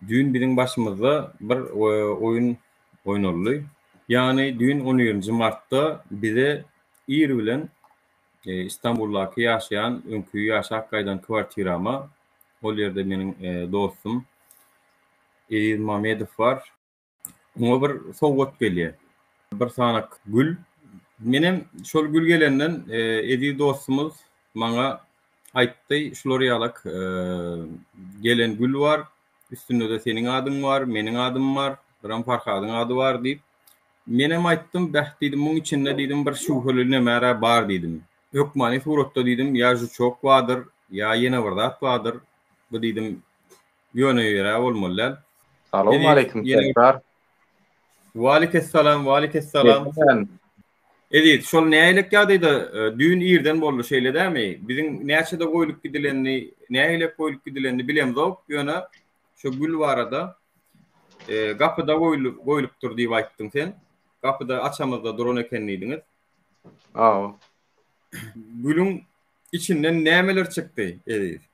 Düýn biziň başymyzda bir oýun oýnaldy. Ýagny düýn on birinji martda bize ir bilen Istanbuldaky ýaşaýan öňki ýaşap gaýdan kwartirama, ol ýerde meniň dostum Eziz Mamedow bar. Oňa bir sowgat gelýär. Bir sanak gül. Menem şol gül gelenden e, eziz dostumyz maňa aýtdy, şular ýalak e, gelen gül bar, üstünde-de seniň adyň bar, meniň adym bar, biram Farhadyň ady bar diýip. Menem aýtdym, bäh diýdim, muň içinde diýdim bir şübheli nämäre bar diýdim. Hökmany suratda diýdim, ýa žuçok bardyr, ýa ýene bir zat bardyr. Bu diýdim, Ýöne ýöne bolmaly däl. Salowmaleýkim Serdar. Waleýkessalam, waleýkessalam. Eziz, şol nähilek ýagdaýda düýn irden boldy şeýle dämi? Biziň näçede goýlup gidilenini, nähilek goýlup gidilenini bilemzok, ýöne şu gül barada gapyda goýlup goýlupdyr diýip aýtdyň sen. Gapyda açamyzda duran eken diýdiňiz. Aw. Gülüň içinden nämeler çykdy, Eziz?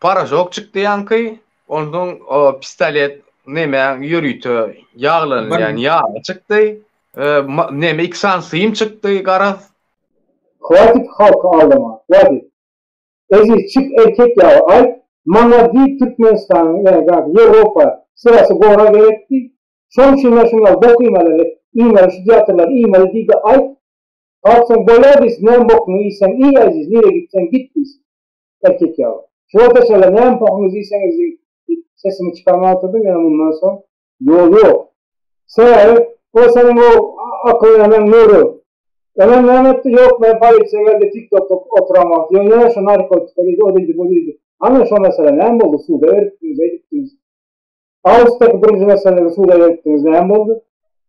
Paražok çykdy ýaňky, onsoň o pistolet neme ýörite ýaglanylýan ýagy çykdy, neme iksan sym çykdy garaz. Hwatit halky aldama hwatit. Eziz çyk erkek ýaly aýt maňa diý Türkmenistanyň erzak Ýewropa syrasy gora gerek diý. Şoň şinler şunlar bok iýmeleli iýmeli şu teatrlar iýmeli diýde aýt. Galksaň boýa diýsin näme bokuňy iýseň iý eziz nire gitseň git diýsin. Erkek ýaly. Şuwata çenli näme pohuňyz diýseňiz diýip, sesimi çykarman oturdym, ýöne mundan soň ýol ýok. Sebäbi, o seniň o akylly eneň Nury. Eneň näme etdi? Ýok, men polisiýa geldi, TikTokda oturan wagty, ýöne ýene şu narkotika diýdi, o diýdi, bu diýdi. Hany, şo mesele näme boldy? Suda beripdiňiz, eýdipdiňiz. Awgustdaky birinji meseläňizi suda ýerikdiňiz näme boldy?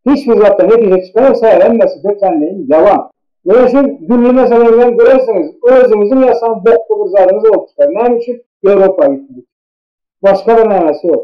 Hiç bir zatdan netije çykaýsa hemmesi tötänleýin ýalan. Ýöne şu dürli meseleňizden görersiňiz özüňiziň ýasan bokly bir zadyňyz bolup çykar. Näme üçin Ýewropa gitmek üçin. Başga bir mämäsi ýok.